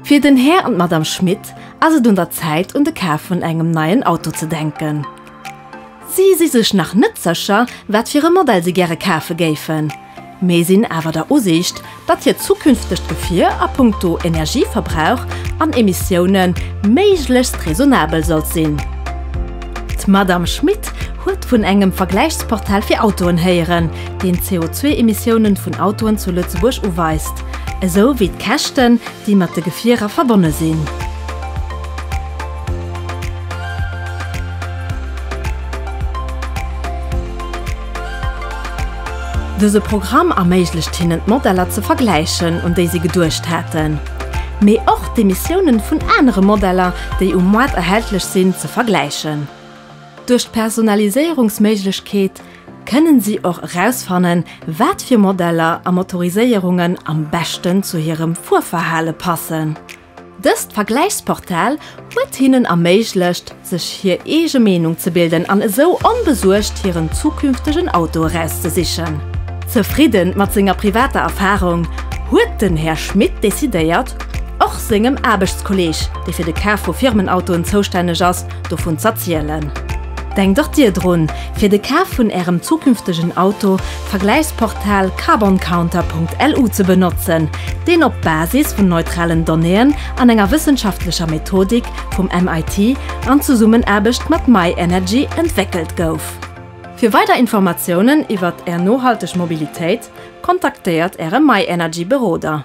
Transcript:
Fir den Här an d'Madame Schmit ass et un der Zäit un de Kaf vun engem neien Auto ze denken. Si si sech nach net sécher, wat fir e Modell si gäre kafe géifen. Mee sinn awer der Usiicht, datt hiert zukünftegt Gefier a punkto Energieverbrauch an Emissioune méiglechst raisonnabel sollt sinn. D'Madamm Schmit huet vun engem Vergläichsportal fir Autoen héieren, deen d'CO2-Emissioune vun Autoen zu Lëtzebuerg uweist, esou wéi d'Käschten, déi mat de Gefierer verbonne sinn. Dëse Programm erméiglecht hinnen d'Modeller ze vergläichen, un déi si geduecht haten, mee och d'Emissiounen vun anere Modeller, déi um Moart erhältlech sinn, ze vergläichen. Duerch d'Personaliséierungsméiglechkeet kënnen si och erausfannen, wat fir Modeller a Motoriséierungen am beschten zu hirem Fuerverhale passen. Dëst Vergläichsportal huet hinnen erméiglecht, sech hir eege Meenung ze bilden an esou onbesuergt hiren zukünftegen Auto erauszesichen. Zefridden mat senger privater Erfarung, huet den Här Schmit decidéiert, och sengem Aarbechtskolleg, dee fir de Kaf vu Firmenautoen zoustänneg ass, dovun z'erzielen. Denkt och Dir drun, fir de Kaf vun Ärem zukünftegen Auto Vergläichsportal carboncounter.lu ze benotzen, deen op Basis vun neutralen Donnéeën an enger wëssenschaftlecher Methodik vum MIT an Zesummenaarbecht mat myenergy entwéckelt gouf. Fir weider Informatiounen iwwert Är nohalteg Mobilitéit, kontaktéiert Äre myenergy Beroder.